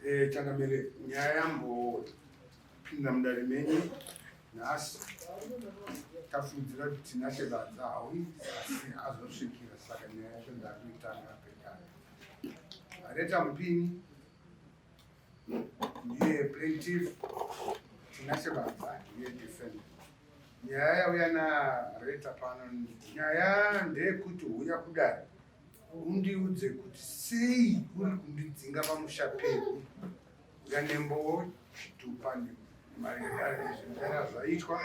Eh, changamire nyaya yambopinda mudare menyu nhasi tafundzira kuti tinashe badza hauyi asi azosvikira saka nyaya yacho ndakuitanga pekaya areta mupini ndiye plaintiff tinashe badza ndiye defender nyaya yauya nareta pano nyaya ndeyekuti huya kudare undiudze kuti sei uri kundidzinga pamusha pedu nganembowo zvitupa nemariaizvindara zvaitwa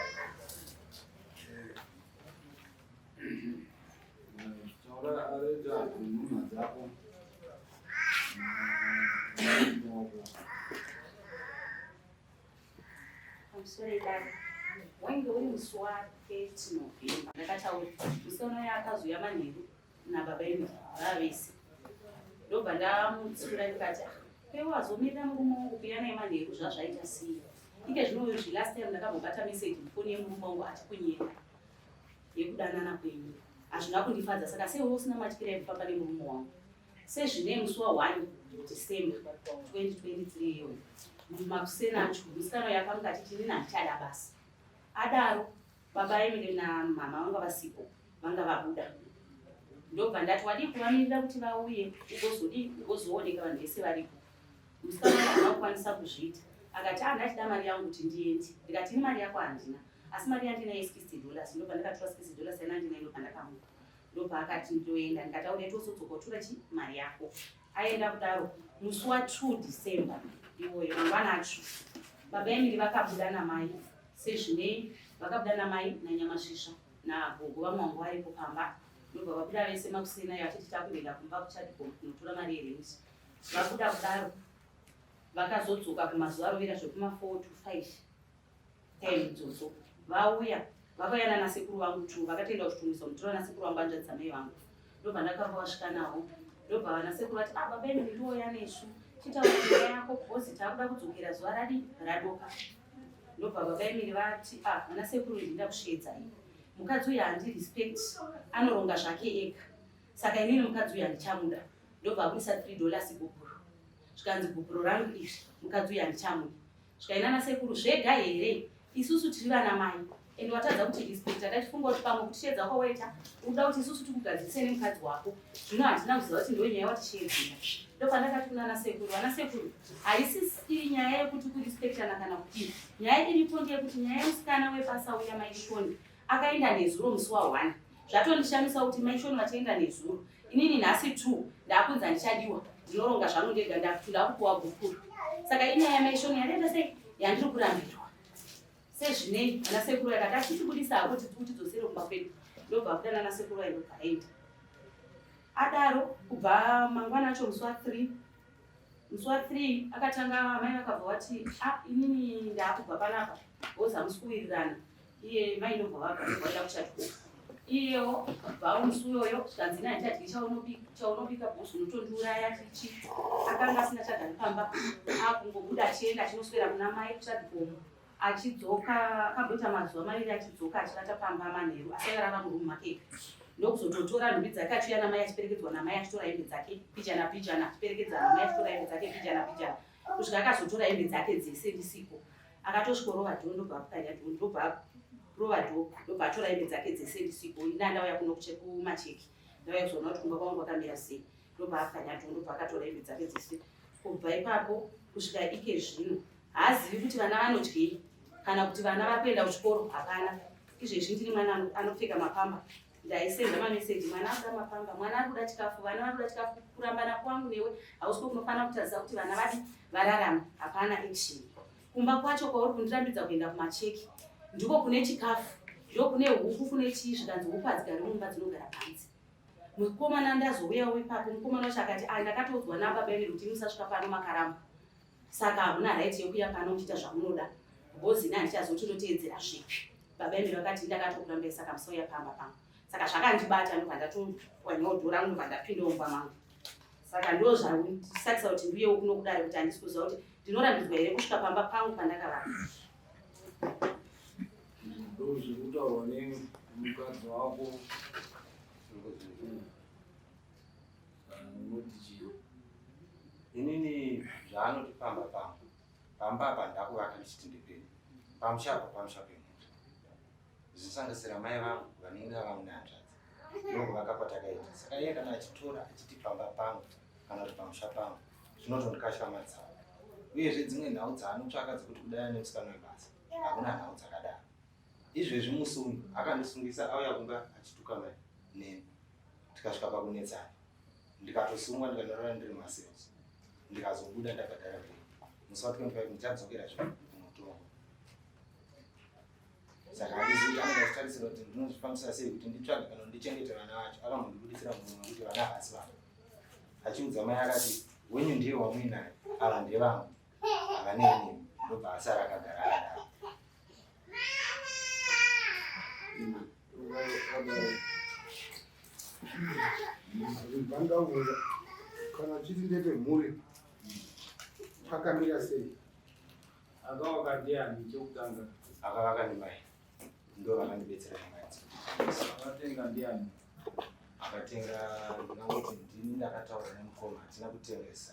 wainge uri musi waketinobhemba ndakataura musi unoya akazouya manheru nababa imi vava vese ndobva ndamutsiura ndikati ah, pewo azomirira murume wangu kuya naye manheru zvazvaita siya ike zvinoyo zvi last time ndakambobata message mufoni yemurume wangu achikunyera yekudanana kwenyu hazvina kundifadza saka seiwe usina matyira yekufamba nemurume wangu sezvine musi wa 1 December 2023 iyoyo mumakuseni acho musikana uyo akamuka achiti inini handichada basa adaro baba emile namama vanga vasipo vanga vabuda ndobva ndati wadii kuvamirira kuti vauye ugozodii ugozooneka vanhu vese varipo musikana uyo hana kukwanisa kuzviita akati a ah, ndachida mari yangu kuti ndiende ndikati ini mari yako handina asi mari yandinayo 60 dollars ndobva ndakatora 60 dollars yanandinayo ndobva ndakamuka ndopaakati ndoenda ndikati auda ita usodzokotura chi mari yako aenda kudaro musi wa 2 december iwoyo mangwana acho baba emiri vakabuda namai sezvinei vakabuda namai nanyamasvisva nagogo vamwe vangu varipo pamba ndobva vabuda vese makuseni ayo achiti takuenda kumba kuchadiko kunotora mari yerenti vabuda kudaro vakazodzoka kumazuva arovera zvekuma 4 to 5 Then Dzotso vauya vakauya nana sekuru vangu tu vakatoenda kuchitungiso mutora na sekuru vangu anzvadzi dzamai vangu ndobva ndakabva vasvika nawo ndobva vana sekuru vati ah baba imi ndiwoya nesu chitaura nyaya yako bhozi takuda kudzokera zuva radi radoka ndobva baba imiri vati ah vana sekuru ndinda kusviedzai mukadzi uyu handi respect anoronga zvake ega saka inini mukadzi uyu handichamuda ndobva akuisa three dollars gupuro zvikanzi gupuro rangu izvi mukadzi uyu handichamuda Zvikai nana sekuru zvega here isusu tiri vana mai and watadza kuti respect atachifunga kuti pamwe kuti shedza kwawaita unoda kuti isusu tikugadzirise nemukadzi wako zvino hatina kuziva kuti ndo nyaya watishedzera ndopandakati kunana sekuru vana sekuru haisi iri nyaya yekuti kurespectana kana kuti nyaya iripo ndeyekuti nyaya yemusikana wepasa uya maishoni akaenda nezuro musi wa one zvatondishamisa kuti maishoni vachaenda nezuro inini nhasi two ndakunzi handichadiwa ndinoronga zvangu ndega ndakuti ndakupuwa gukuru saka inyaya yamaishoni yandaita sei yandiri kurambirwa sezvinei ana sekuru yakati asitibudisa hako tikuti dzosere kumba kwedu ndobva kuda nana sekuru vainobva aenda adaro kubva mangwana acho musi wa three musi wa three akatanga amai vakabva vati a ah, inini ndaakubva panapa ozi hamusi kuwirirana iye mai ndobva vagaida kuchatiko iyewo bvawo musi uyoyo zvikanzi ina handichadyi chaunobika bhos unotondiuraya chichi akanga asina chagari pamba akungobuda achienda achinoswera kuna mai kuchadikomo achidzoka akamboita mazuva maviri achidzoka achivata pamba manheru asi airara murumu make ndokuzototora nhumbi dzake achiuya namai achiperekedzwa namai achitora hembe dzake pijana pijana achiperekedza namai achitora hembe dzake pijana pijana kusvika akazotora hembe dzake dzese ndisiko akatosvikorova dhoo ndobva apukanya dhoo ndobva rova dhoo ndobva atora hembe dzake dzese ndisiko ini andauya kuno kumacheki ndauya kuzoona kuti kumba kwangu kwakamira sei ndobva apukanya dhoo ndobva akatora hembe dzake dzese kubva ipapo kusvika ike zvino haazivi kuti vana vanodyei kana kuti vana vari kuenda kuchikoro hapana izvezvi ndini mwana anopfeka mapamba ndaisenda mameseji mwana akuda mapamba mwana ari kuda chikafu vana vari kuda chikafu kurambana kwangu newe hausi ko kunofanira kutaridza kuti vana vadi vararama hapana action kumba kwacho kwauri kundirambidza kuenda kumacheki ndiko kune chikafu ndiko kune huku kune chii zvikanzi huku hadzigari mumba dzinogara panzi mukomana ndazouyawo ipapo mukomana wacho akati ai ndakatoudzwa nababa ine kuti musasvika pano makaramba saka hamuna right yekuya pano uchiita zvamunoda bhozi ini handichazoti ndoteedzera zvipi baba emiri vakati ndakatokurambei saka musauya pamba pangu saka zvakandibata ndobva ndatowanyawo dhora rangu ndobva ndapinda umba mangu saka ndo zvandisakisa kuti ndiuye ukuno kudare kuti handisi kuziva kuti ndinorambidzwa here kusvika pamba pangu pandakavaka ndozvikutaurwa nemukadzi wako Unoti chii? Inini zvaanoti pamba pangu. Pamba apa ndakuvaka ndichiti ndipeni. Pamusha apa pamusha penyu. Zvisangasira mai vangu vanenge vava nehanzvadzi. Ndongo vakapatakaita. Saka iye kana achitora achiti pamba pangu kana kuti pamusha pangu zvinotondikasha madzava. Uyezve dzimwe nhau dzaanotsvaka dzekuti kudai nemusikana webasa hakuna nhau dzakadaro. Izvezvi musi uyu akandisungisa auya kumba achituka mai neni. tikasvika pakunetsana ndikatosungwa ndikanorara ndiri macells ndikazobuda ndabhadhara pe musi wa 25 ndichadzokera zve mutongo saka handiziita ndikazvitarisira kuti ndinozvifambisa sei kuti nditsvage kana ndichengete vana vacho akambondibudisira munhu wekuti vana havasi vangu achiudza mai akati wenyu ndiye wamuinayo ava ndevangu ava neinini ndobva asara akagara akadaro vangaura kana chiti ndeve mhuri pakamira sei akavaka ndiani chekutanga akavaka ndimai ndo vakandibetsera nyamadzo akatenga ndiani akatenga ndinangoti ndini ndakataura nemukoma hatina kutengesa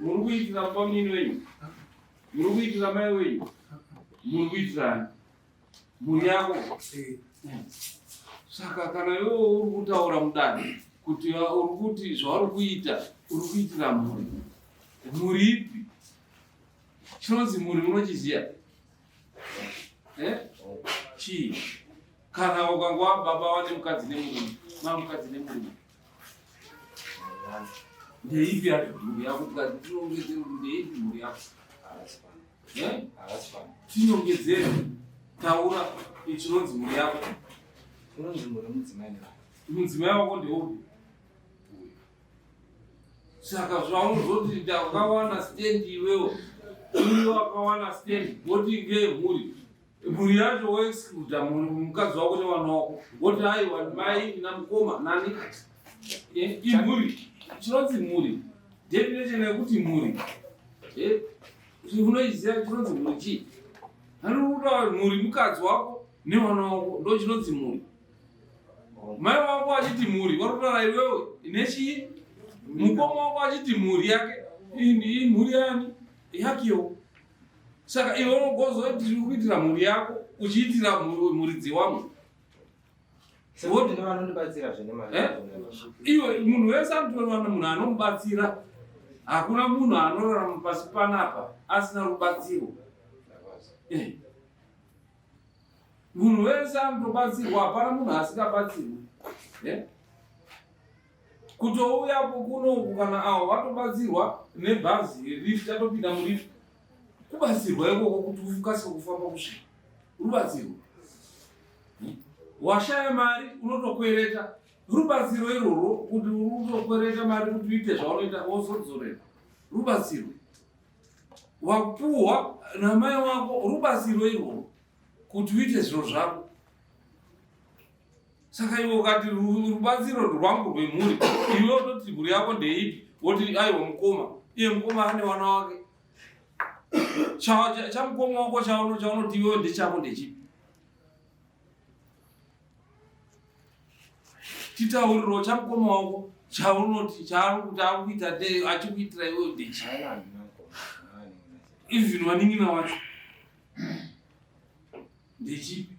muri kuitira bamnini wenyu muri kuitira mai wenyu muri kuitirani mhuri yako saka kana iwe uri kutaura mudani kuti uri kuti zvauri kuita uri kuitira mhuri mhuri ipi chinonzi mhuri munochiziva eh? chii kana ukangwa baba wane mukadzi nemurume ma mukadzi nemurume ndeipi ari mhuri yako tikati tinongedzere kuti ndeipi mhuri yako eh? tinongedzere taura ichinonzi mhuri yako inonzi mhuri mudzimai mudzimai wako ndeupi saka zvaunozoti ndakawana stand iwewo uyo wakawana stand woti ngemhuri mhuri yacho woexcluda mukadzi wako nevana wako woti aiwa mai ina mukoma nani eh, imhuri chinonzi mhuri definition yekuti mhuri eh, unoiziva chinonzi mhuri chii anokutaura mhuri mukadzi wako nevana wako ndo chinonzi mhuri mai wako achiti mhuri watotora iwewe nechii mukoma wako achiti mhuri yake iyi mhuri yani yakewo saka iwe unogoziva kuti tiri kuitira mhuri yako uchiitira muridzi wamwe eh? iwe munhu wese anotowana munhu anomubatsira hakuna munhu anorarama pasi panapa asina rubatsiro eh. munhu wese anotobatsirwa hapana munhu asikabatsirwi yeah? kutouya kunoku kana awo vatobatsirwa nebhazi rif tatopinda murif kubatsirwa ikoko kuti ukasike kufamba kusvika rubatsirwa hmm? washaya mari unotokwereta rubatsiro irworwo kuti unotokwereta mari kuti uite zvaunoita wozodzorera rubatsirwa wapuwa namai wako rubatsiro irwo kuti uite zviro zvako saka iwe ukati rubatsiro rwangu rwemhuri iwe ototi mhuri yako ndeipi woti aiwa mukoma iye mukoma ane wana wake chamukoma wako chaunoti iwewe ndechako ndechipi chitauriro chamukoma wako chaunoti chaarikuita achikuitira iwe udechi even wanin'ina wacho ndechipi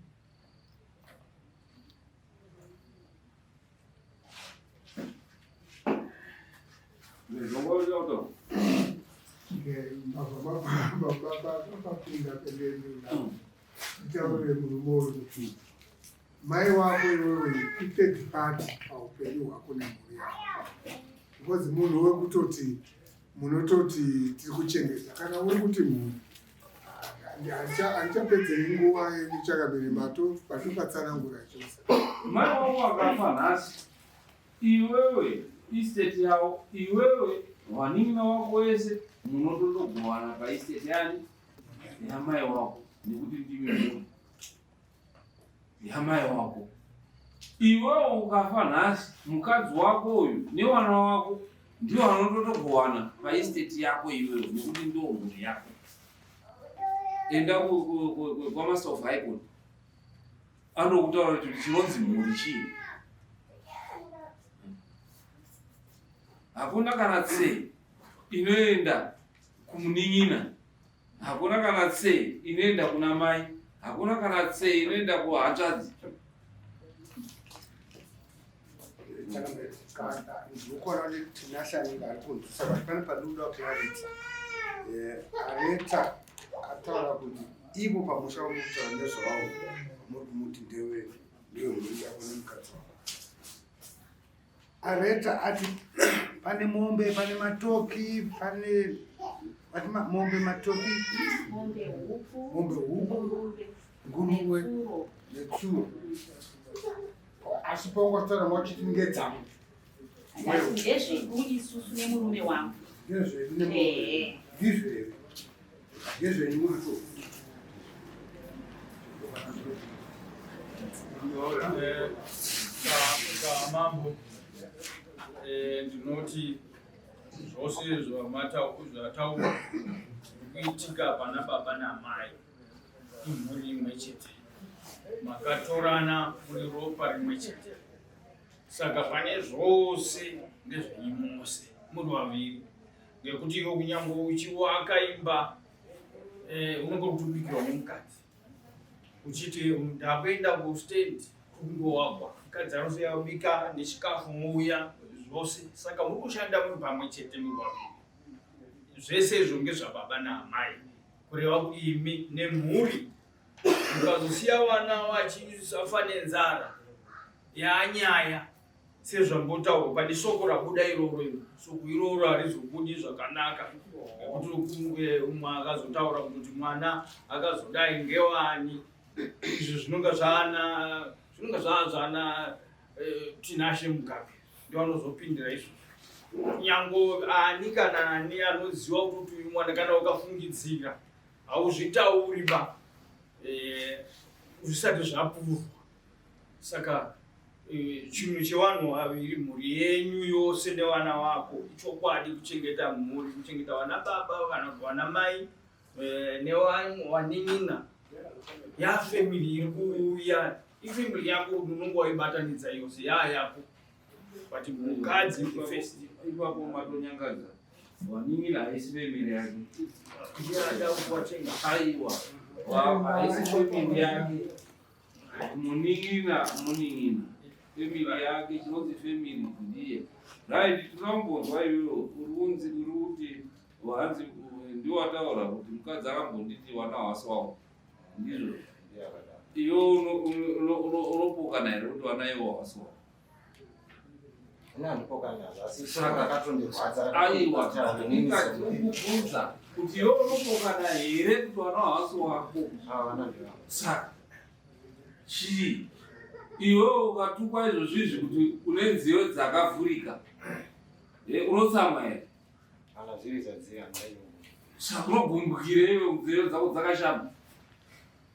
mai wako iwewe ithird party paupenyu hwako nemhuri yako because munhu wekutoti munototi tiri kuchengeta kana uri kuti munhu handichapedze nguva yedu chakabiri mato patopatsanangura chose mai wavo wakafa nhasi iwewe isteti yavo iwewe vanin'ina wako wese munototogovana paisteti yani yamai wako nekuti ndimi munhu yamai wako iwewo ukafa nhasi mukadzi wako uyu newana wako ndiwo anototogowana paesteti yako iwewo nekuti ndo mhuri yako enda kwamaster of high court anokutaura kuti chinonzi mhuri chii hakuna kana tsei inoenda kumunin'ina Hakuna kana tse inoenda kuna mai, hakuna kana tse inoenda kuhanzvadzi. Aneta ataura kuti ivo pamusha wamutaura nezvavo muri kumuti ndewei ndiyo muriita kune mukadzi wako Areta ati pane mombe, pane matoki, pane ati mombe, matoki, mombe huku, nguruwe netsuro. Asi paungatora wachiti ngedzangu ndezvedu isusu nemurume wangu ndizvo here Mambo, eh, ndinoti zvose zvataurwa kuitika pana baba namai imhuri imwe chete makatorana muri ropa rimwe chete saka pane zvose ndezvenyu mose muri vaviri ngekuti iwe kunyangwe uchiwaka imba eh, unenge kutobikirwa nemukadzi uchiti ndakuenda kustand kungowagwa mukadzi anosoyabika nechikafu mouya zvose saka muri kushanda muri pamwe chete murwaviri zvese izvo ngezvababa naamai kureva kuti imi nemhuri mukazosiya vana vachisafa nenzara yanyaya sezvambotaurwa pane soko rabuda iroro iro soko iroro harizobudi zvakanaka nekuti rokumwe umwe akazotaura kuti mwana akazodai ngewani izvi zvinonga zvaana zvinonga zvaa zvana eh, tinashe mugabe ndivanozopindira izvo nyango ani kana ani anoziva kuti uyu mwana kana ukafungidzira hauzvitauri ba eh, zvisati zvapurwa saka eh, chinhu chevanhu vaviri mhuri yenyu yose nevana vako ichokwadi kuchengeta mhuri kuchengeta vana baba kana kuti vana mai eh, newanin'ina yafamily iri kuuya ifamily yako unonga waibatanidza yose yaa yako but mukadzi first ipapo matonyangadza wanin'ina haisi family yake ndiada kuwachenga aiwa haisi family yake Munin'ina, munin'ina, family yake chinonzi family ndiye right. Tinombonzwa iwewe uri unzi uri kuti hanzi ndiwo wataura kuti mukadzi akambonditi wana wasi wangu ndizvo iwe unopokana here kuti wana iwo wasi wangu ndikakubvunza kuti yo unopokana here kuti wana hausi wako saka chii iwe ukatukwa izvozvi izvi kuti une nziyo dzakavhurika unotsamwa here saka unogumbukire iwe nziyo dzako dzakashama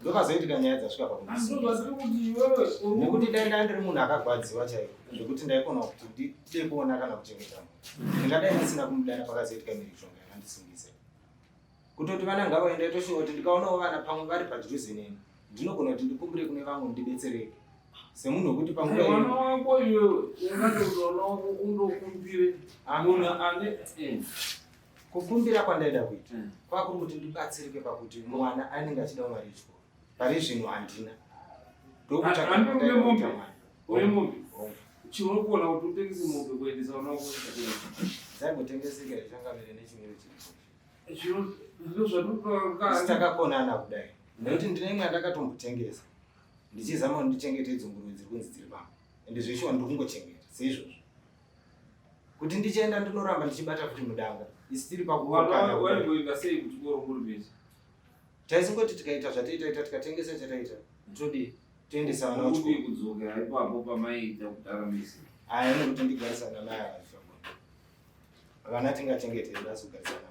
ndokazoitika nyaya dzasvika pakunekuti dai ndaa ndiri munhu akagwadziwa chaiyo zvekuti ndaikona kuti ndide kuona kana kuchengeta munhu ndingadai ndisina kumudana pakazoitika mirichonga yakandisingisa kutoti vana ngavaenda itoshuva kuti ndikaonawo vana pamwe vari padhuze neni ndinogona kuti ndikumbire kune vamwe ndibetsereke semunhu wekuti pamwana wako iwewe ungatozoona undokumbire amuna ane eh. Kukumbira kwandaida kuita mm. kwakuri kuti ndibatsirike pakuti mwana anenge achida mari yechikoro pari zvino handina ndokutsvakaombe chiuri kuona kuti utengese mombe kuendesa vana vakozaingotengesekera changamire nechimwene chiritakakona kudai nekuti ndine imwe andakatombotengesa ndichizama kuti ndichengetedze nguruve dziri kunzi dziri pamba ende zveshuwa ndikungochengeta seizvozvo kuti ndichienda ndinoramba ndichibata futi mudanga isitiri pakuwaingoita sei kuti korokurumidza taisingoti tikaita zvataiitaita tikatengesa chataita todii toendesa vana vachikoro kudzokera ipapo pamaiita kudara misi aya nekuti ndigarisana naye vana tingachengetei asi kugarisana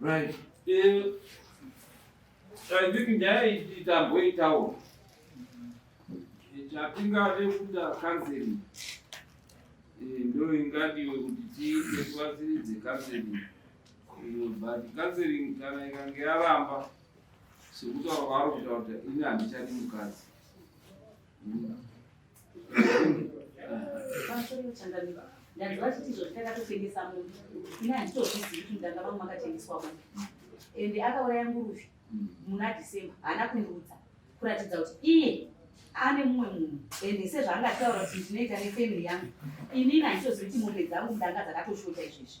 Right. Eh, I think nyaya iyi tamboitawo chatingade kuda counseling eh, ndo ingadiwe kuti tiite tivatsiridze counseling eh, but counseling kana ikange yaramba sekutaura kwaari kutaura kuti ini handichadi mukadzi ndanzwa chiti izvo ndakatotengesa munhu ini handitozvizivi kuti ndanga vamwe makatengeswa munhu ende akauraya nguruvi muna december haana kundiudza kuratidza kuti iye ane mumwe munhu ende sezvaangataura kuti ndinoita nefamily yangu inini handitozivi kuti mombe dzangu ndanga dzakatoshota izvezvi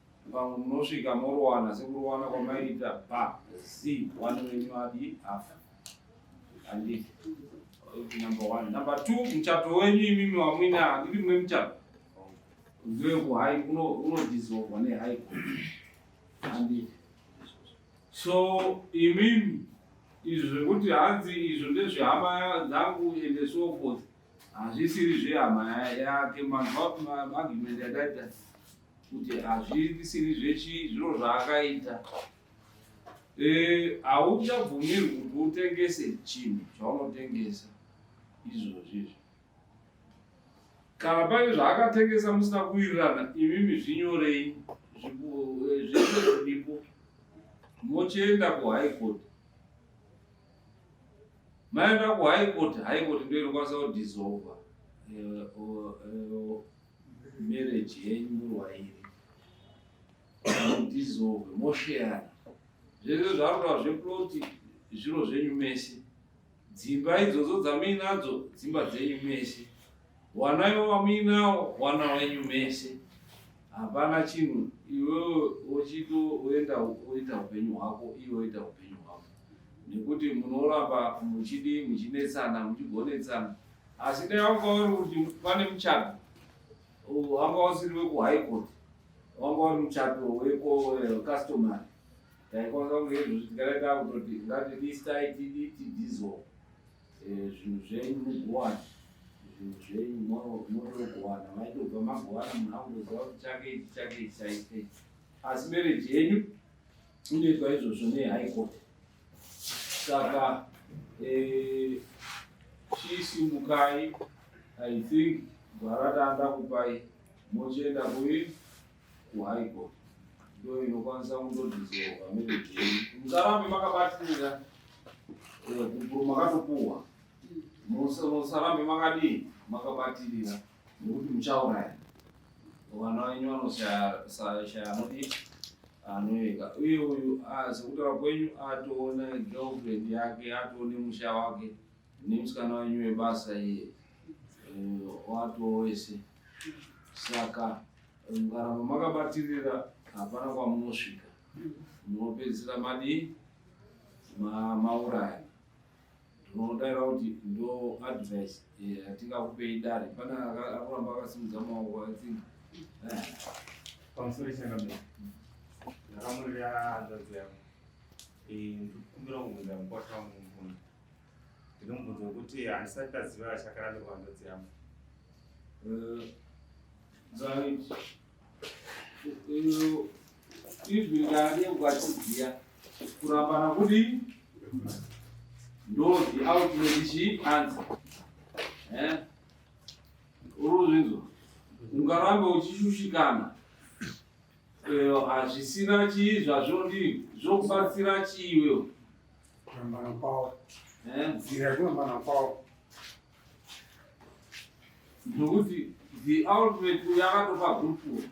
Vamwe munosvika morowana sekurowana kwamaiita ba c one wenyu adi afa handiti number one number two muchato wenyu imimi wamwina handiti mwe muchato ndewekuhai unodizolvwa nehai handiti so imimi izvo zvekuti hanzi izvo ndezvehama dzangu ende so forth hazvisiri zvehama yake manhu argument yataita kuti hazvisiri zvechi zviro zvaakaita hauchabvumirwi e, kuti utengese chinhu chaunotengesa izvozvi izvi kana pane zvaakatengesa musina kuwirirana imimi zvinyorei zviipo e, mochienda kuhigh court maenda kuhigh court high court ndoinokwanisa kudissolva e, marriage yenyu murwaire dissolve mosheyana zvese zvakuta zveploti zviro zvenyu mese dzimba idzodzo dzamuinadzo dzimba dzenyu mese wana ivo vamuinawo wana wenyu mese hapana chinhu iwewe wochito woenda woita upenyu hwako iwe woita upenyu hwako nekuti munoramba muchidi muchinetsana muchigonetsana Asi dai wanga uri kuti pane muchato wanga usiri wekuhigh court wanga uri muchato wekocustomary eh, taikwanisa kunge izvozvi tikadaita kutoti ngatilistai tidi tidizo eh, zvinhu zvenyu mugowana zvinhu zvenyu motogowana maitobva magowana munhu akungoziva kuti chake ichi chake ichi chaite asi mereji yenyu inoitwa izvozvo nehigh court Saka eh, shisi mukai I think gwara taanda kupai mochienda kuyi kuhigh court ndo inokwanisa kundodhizowa merejeyi musarambe makabatirira eh, makatopuwa musarambe makadii makabatirira nokuti muchauraya vana venyu vanoshaya mudii anoyeka uye uyu sekutaura kwenyu atoona girlfriend yake atoone musha wake nemusikana wenyu webasa iye eh, watoo wese saka mukaramba makabatirira hapana kwamunosvika munopedzisira madii mauraya ndinodaira kuti ndo advice yatingakupei dare pane akuramba akasimudza maoko athingi pamusoro changamira ndakamurira hanzvadzi yangu ndikukumbira kubvunza mukwasha wangu mubvunzo ndinomubvunzo wekuti handisati ndaziva chakarambirwa hanzvadzi yangu eh, izwi rikadeuka chidziya kurambana kudi ndo the ultimate chi answer eh uruzvinzwa ungarambe uchishushikana eh, hazvisina chii zvazvo ndii zvokubatsira chii iwewo kurambana kwawo eh? nzira yekurambana kwawo ndokuti the ultimate yakatopa gurupuro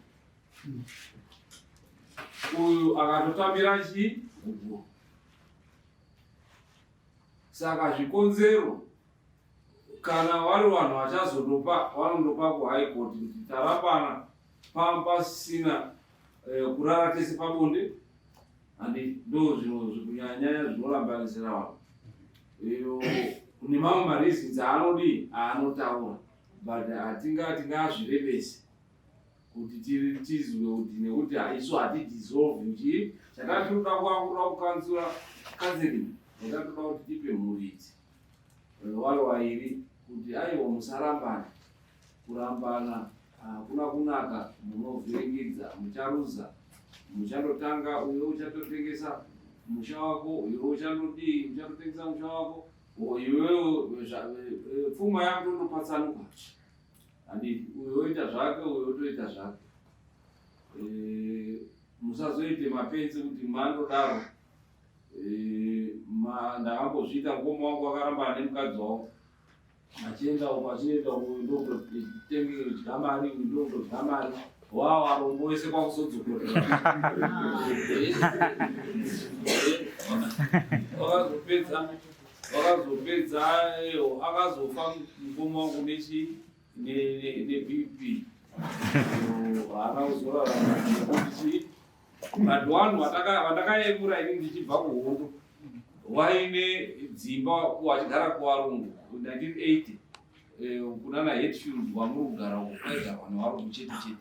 uyu akatotambira chi kubwa saka zvikonzero kana vari vanhu vachazondopa vanondopa kuhigh court kuti tarapana pasina eh, kurara tese pabonde handi ndo zvino zvikunyanyanya zvinorambanisira vanhu iyo nemamwe mareasons aanodii aanotaura but hatinga tingazvirevesi kuti tizwe kuti nekuti haisu hati dissolve nji chatatoda kuakura kukanzura kanziling chatatoda kuti tipe muridzi vayo vairi kuti aiwa musarambana kurambana hakuna kunaka munovhiringidza mucharuza muchatotanga uyo uchatotengesa musha wako uyo uchanodii uchatotengesa musha wako iwewe pfuma yako ndopatsanuka handiti uyo oita zvake uyo otoita zvake eh, musazoite mapenzi kuti mandodaro eh, ndakambozviita mukoma wangu wakaramba ane mukadzi wavo achienda uko achienda uko ndokutenge dya mari ndokutodya mari wawo arombo wese kwakuzodzokera wakazopedza vakazopedza akazofa mukoma wangu nechi nebp haakauzoraaakuti vanhu wanu vandakayemura ini ndichibva kuhondo waine dzimba wachigara kuvarungu 1980 eh, kunana hetfield wamuri kugara uko kwaigarwa nevarungu chete chete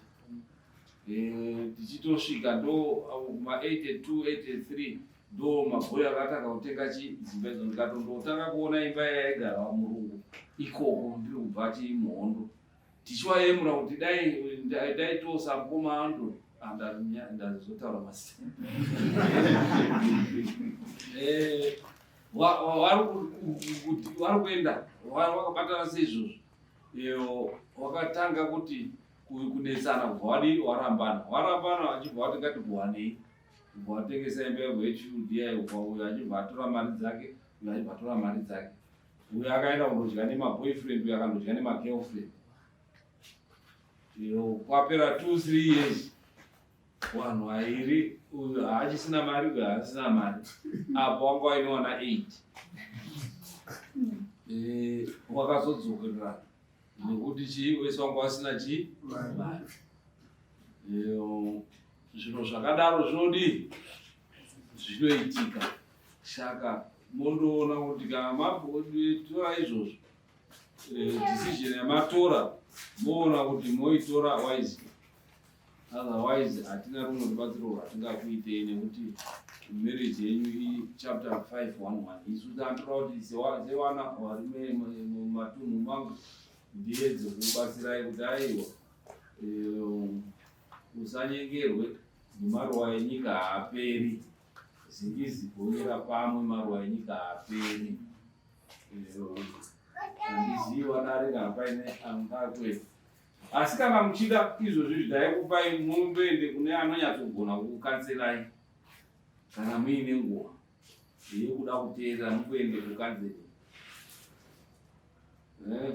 eh, tichitosvika ndo ma 82 83 ndoo mabhuya akatanga kutenga chidzimba idzo ndikatondotanga kuona imba yaigarwa murungu ikoko ndiri kubva chimuhondo tichiwayemura kuti dai daitosa mukoma ando andazotaura masina eh, wari kuenda wakabatana seizvozvo iyo wakatanga kuti kunetsana kubva wadi warambana warambana achibva wati ngatikuwanei ubva watengesa imba yako yechuru diya ubva uyo achibva atora mari dzake uyo achibva atora mari dzake uyo akaenda kundodya nemaboyfriend uyo akandodya nemagirlfriend iyo kwapera two three years wanhu airi uyo haachisina mari uyo haasina mari apo wanga wainoona eight eh, wakazodzokerera nekuti chii wese wanga wasina chii mari eh, Zvinhu zvakadaro zvinodii? Zvinoitika. Saka mondoona kuti kana matora izvozvo eh, decision yamatora moona kuti moitora wise otherwise hatina rumwe rubatsiro rwatingakuitei nekuti marriage yenyu ichapter 511 isu tanotora kuti sewana varume mumatunhu mangu ndiedze kubatsirai kuti aiwa eh, Usanyengerwe nemaruwa enyika haaperi. Zingizi gonyera pamwe maruwa enyika haaperi. Handiziva dare kana paine angatwe. Asi kana muchida izvozvi zvidaikupai mumboende kune anonyatsogona kukukanserai kana muine nguva yekuda kuteerera mukuende kukanzeri. Eh?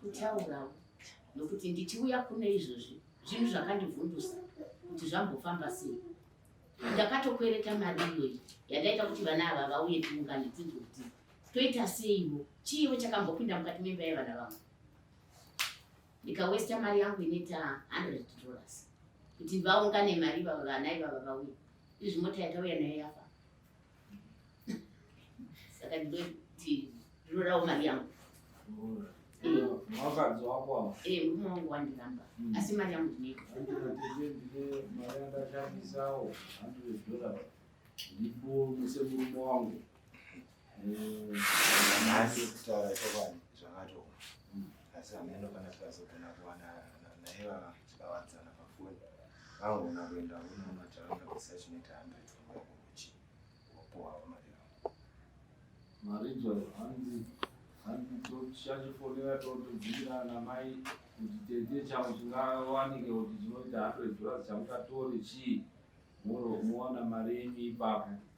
kutaurawo nokuti ndichiuya kune izvozvi zvinhu zvakandivhundusa kuti zvambofamba sei ndakatokwereta mari iyoyi yandaita kuti vana ava vauye tiungane tinzwe kuti toita seiwo chiiwo chakambopinda mukati memba yevana vamwe ndikawesta mari yangu inoita 100 dollars kuti vaungane mari ivava vana ivava vauya izvi mota yatauya nayo yafa saka ndinoti ndinodawo mari yangu mukadzi wako awa ee murume wangu wandiramba asi mari yangu ndinoitamari andashandisawo 100 dollars ndipo muse murume wangu nhasi kutaura chokwadi zvakatooma asi hameno kana tikazogona kuwana naye vava tikawadzana pafoni vangona kuenda unomataraunda kusachinoita hundred kuchi wopohavo mari yavo marijo hanzi hanzi tochachifonera totobvirana mai kuti tete changu chingawanike kuti chinoita hundred dollars chamutatore chii moro mowana mari yenyu ipapo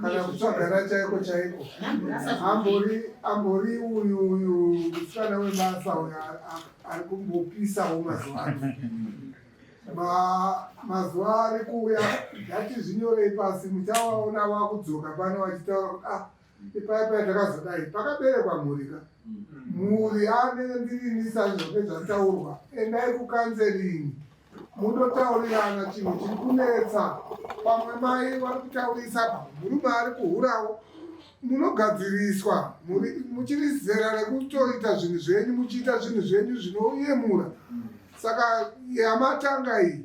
kana kutsvagana chaiko chaiko ambori ambori uyu uyu musikana webasa uyu ari kumbopisawo mazuva ano mazuva ari kuuya ndati zvinyorei pasi muchawaona wakudzoka pano vachitaura kuti ah ipaipai takazodai pakaberekwa mhurika mhuri ane ndirinisa zvoke zvataurwa endai kukanzeringi munotaurirana chinhu chiri kunetsa pamwe mai vari kutaurisa pamwe murume ari kuhurawo munogadziriswa muri muchiri zera rekutoita zvinhu zvenyu muchiita zvinhu zvenyu zvinoyemura saka yamatanga iyi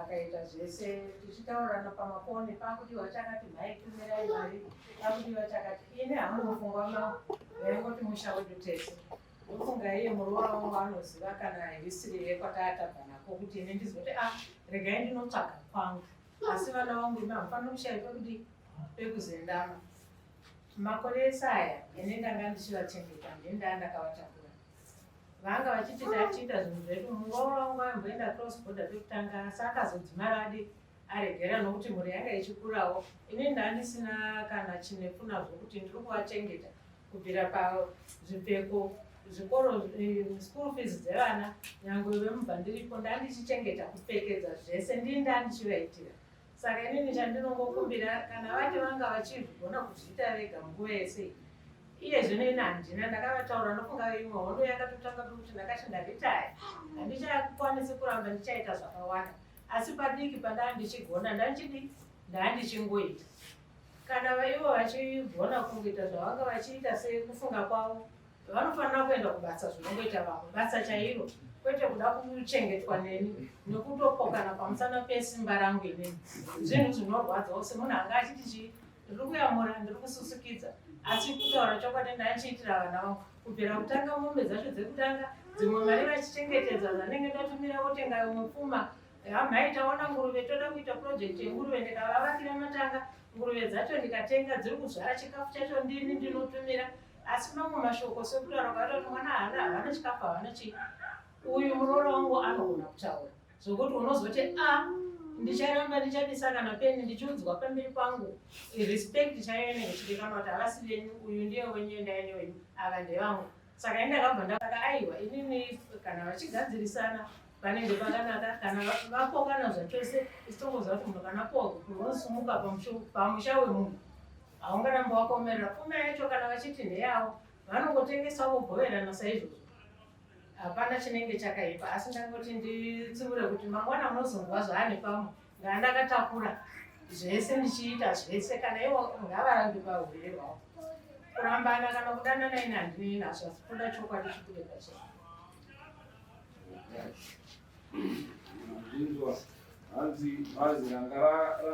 akaita zvese tichitaurirana pamafoni pakudiwa chakati mhai tumirai mari pakudiwa chakati ini hamunofungwa mao vaingoti musha wedu tese ndofunga iye muroora wangu anoziva kana hisiri yekwataatava nako kuti ini ndizoti a ah, regai ndinotsvaga kwangu asi vana vangu imi hamufanira kushaya pekuti pekuzendama makore ese aya ini ndanga ndichivachengeta ndini ndaa ndakavatakura vanga vachiti tatiita zvinhu zvedu muroora wangu aimboenda cross border pekutanga asi akazodzimara adi aregera nokuti mhuri yanga ichikurawo ini ndandisina kana chinepfuna zvokuti ndiri kuvachengeta kubvira pazvipfeko zvikoro eh, school fees dzevana nyangwe vemubva ndiripo ndandichichengeta kupfekedza zvese ndini ndandichivaitira saka inini chandinongokumbira kana vati vanga vachizvigona kuzviita vega nguva yese iye zvino ini handina ndakavataura ndokunga imwe hondo yakatotanga pekuti ndakati ndaritaya handichakwanisi kuramba ndichaita zvakawanda asi padiki pandaa ndichigona ndandichidi ndaandichingoita kana vaivo vachigona kungoita zvavanga vachiita sekufunga kwavo vanofanira kuenda kubasa zvinongoita vamwe basa chairo kwete kuda kuchengetwa neni nekutopokana pamusana pesimba rangu inini zvinhu zvinorwadza ose munhu anga achiti chii ndiri kuyamura ndiri kususukidza asi kutaura chokwadi ndaichiitira vana vangu kubvira kutanga mombe dzacho dzekutanga dzimwe mari vachichengetedza zvanenge ndatumira votenga imwe pfuma hamhai taona nguruve toda kuita purojekti yenguruve ndikavavakira matanga nguruve dzacho ndikatenga dziri kuzvara chikafu chacho ndini ndinotumira asi mamwe mashoko sekutaura kwaita kuti mwana haana havana chikafu havana chii uyu muroora wangu anogona kutaura zvokuti unozoti a ah, ndicharamba ndichabisa kana peni ndichiudzwa pamberi pangu respect chaiyo inenge ichidikanwa kuti havasi venyu uyu ndiye wenyu endai newenyu ava ndevangu saka ini ndakabva ndasaka aiwa inini kana vachigadzirisana panenge pakanaka kana vapokana zvachose ichitongoziva kuti munhu kana poo unosumuka pamusha wemunhu haungaramba wakaomerera pfuma yacho kana vachiti ndeyavo vanongotengesa vogoverana saizvozvo hapana chinenge chakaipa asi ndangoti nditsiure kuti mangwana munozonzwa zvaane pamwe ngaa ndakatakura zvese ndichiita zvese kana ivo ngavarambi pahurwere hwavo kurambana kana kudanana ine handinei nazvo asi kuda chokwadi chikude pachee hanzi bhazi ranga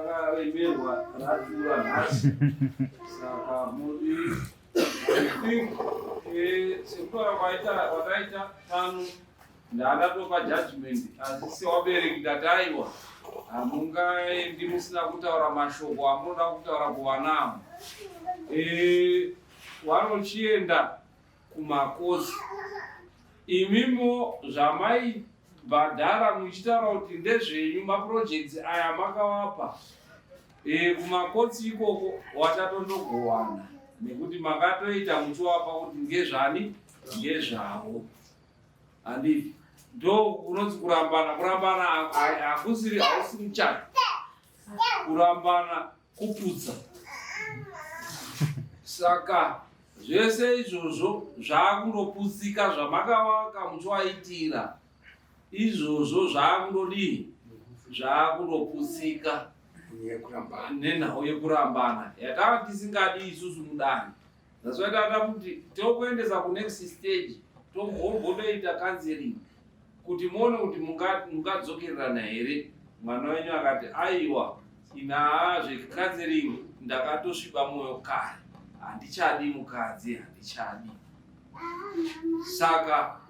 rakaremerwa ratura nhasi saka mudi think eh, sekutaura kwaita kwakaita tano ndandatopa judgment asi sewabereki ndati aiwa hamungaendi musina kutaura mashoko amunoda kutaura kuvana avo eh, wanochienda kumakosi imimo zvamaibhadhara muchitaura kuti ndezvenyu maprojects aya makawapa e, kumakotsi ikoko watatondogowana nekuti makatoita muchiwapa kuti ngezvani ngezvavo handivi ndo kunonzi kurambana kurambana hakusiri hausi muchana kurambana kuputsa saka zvese izvozvo zvakundoputsika zvamakavaka muchiwaitira izvozvo zvakundodii zvakundoputsika nenhau yekurambana yatava tisingadi isusu mudani That's why tata kuti tokuendesa ku next stage tombombotoita counseling kuti muone kuti mungadzokererana here mwana wenyu akati aiwa inaa zvecounseling ndakatosviba mwoyo kare handichadi mukadzi handichadi saka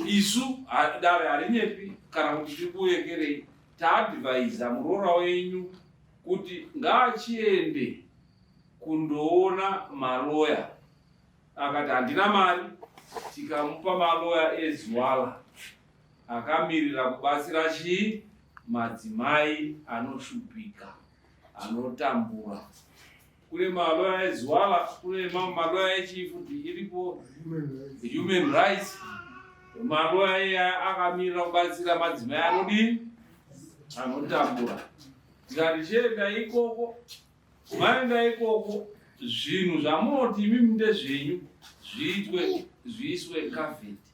isu dare harinyepi kana kuti tikuvekerei taadvaiza muroora wenyu kuti ngaachiende kundoona maloya akati handina mari tikamupa maloya ezwala akamirira kubatsira chii madzimai anoshupika anotambura kune maloya ezwala kune mamwe maloya echifuti iripo human rights maloya iya akamirira kubatsira madzimai anodii anotambura tikati chienda ikoko Vaenda ikoko zvinhu zvamunoti imi ndezvenyu zviitwe zviiswe kavheti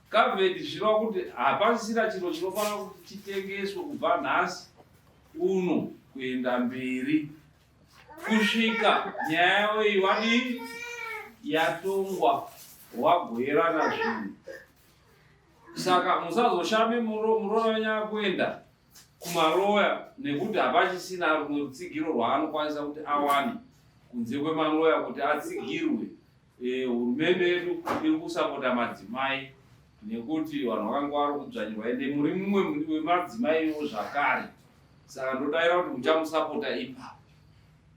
kavheti zvichiva kuti hapasisina chiro chinofanira kuti chitengeswe kubva nhasi uno kuenda mberi kusvika nyaya yavo iyi vadii yatongwa wagoerana zvinhu saka musazoshame muromo muromo wenyu akuenda kumaloya nekuti hapachisina rumwe rutsigiro rwaanokwanisa kuti awane kunze kwemaloya kuti atsigirwe eh, hurumende yedu iri kusapota madzimai nekuti vanhu vakanga vari kudzvanyirwa ende muri mumwe wemadzimai ivo zvakare saka ndodaira kuti muchamusapota ipapo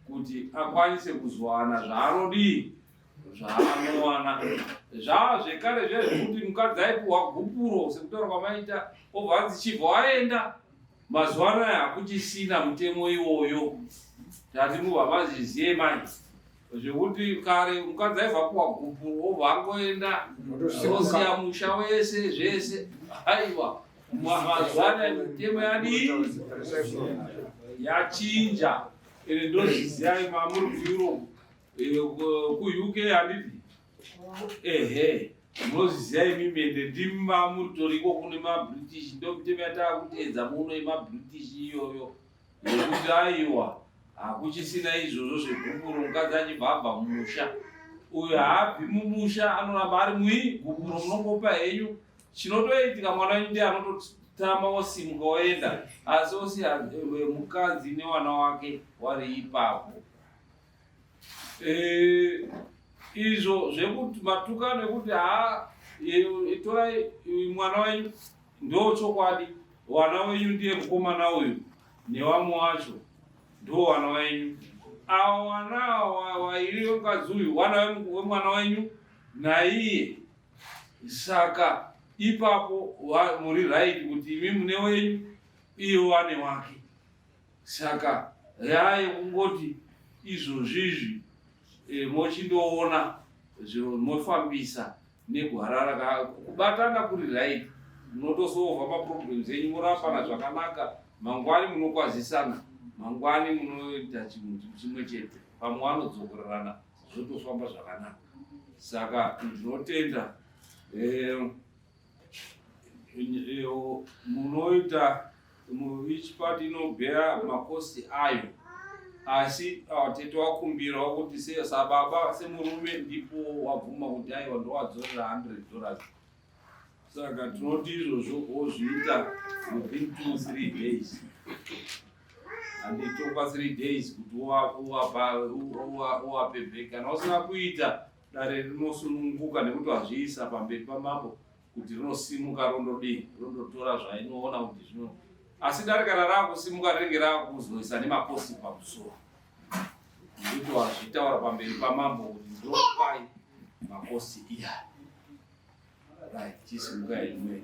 kuti akwanise kuzowana zvaanodii zvaanowana zvaa zvekare zvezvekuti mukadzi aipuhwa gupuro sekutaura kwamaita obva anzi chibva aenda mazuva ano aya hakuchisina mutemo iwoyo tati mubva mazvizive manje zvekuti kare mukadzi aibva puhwa gupuro obva angoenda osiya musha wese zvese aiwa mazuva ano aya mitemo yadii yachinja ende ndozviziva imamuri kueurope Eh, ku UK handiti ehe munoziziva imi mende ndimi mamutoriko kune mabritish ndomitemo yataakutedza muno yemabritish iyoyo yekuti aiwa hakuchisina izvozvo zvegupuro mukadzi achibva abva mumusha uyo haabvi mumusha anoramba ari mui gupuro munongopa henyu chinotoitika mwana wenyu ndiye anototama wosimuka woenda asi osi eh, mukadzi newana wake wari ipapo Eh, izvo zvekuti matukano ekuti haa itorai mwana wenyu ndo chokwadi wana wenyu ndiye mukomana uyu newamwe wacho ndo wana wenyu awa wana wairi wemukadzi uyu wana wemwana wenyu naiye saka ipapo muri right kuti imi mune wenyu iye wane wake saka yaye kungoti izvozvizvi e, mochindoona zviro mofambisa negwara raka kubatana kuri right munotosova maproblems enyu morapana zvakanaka mangwani munokwazisana mangwani munoita chinhu chimwe chete pamwe vanodzokorerana zvotofamba zvakanaka saka ndinotenda e, e, munoita Each part inobhera makosti ayo asi ah, tete wakumbirawo kuti sababa semurume ndipo wabvuma kuti aiwa ndowadzorera 100 dollars saka tinoti izvozvo wozviita within two three days anditopa three days kuti uwapebheka kana usina kuita dare rinosununguka nekuti wazviisa pamberi pamambo kuti rinosimuka rondodii rondotora zvainoona kuti zvino asi darika rarakusimuka rinenge rakuzoisa nemaposi pamusoro nekuti wazvitaura pamberi pamambo kuti ndopai maposi iya right chisimukai imweni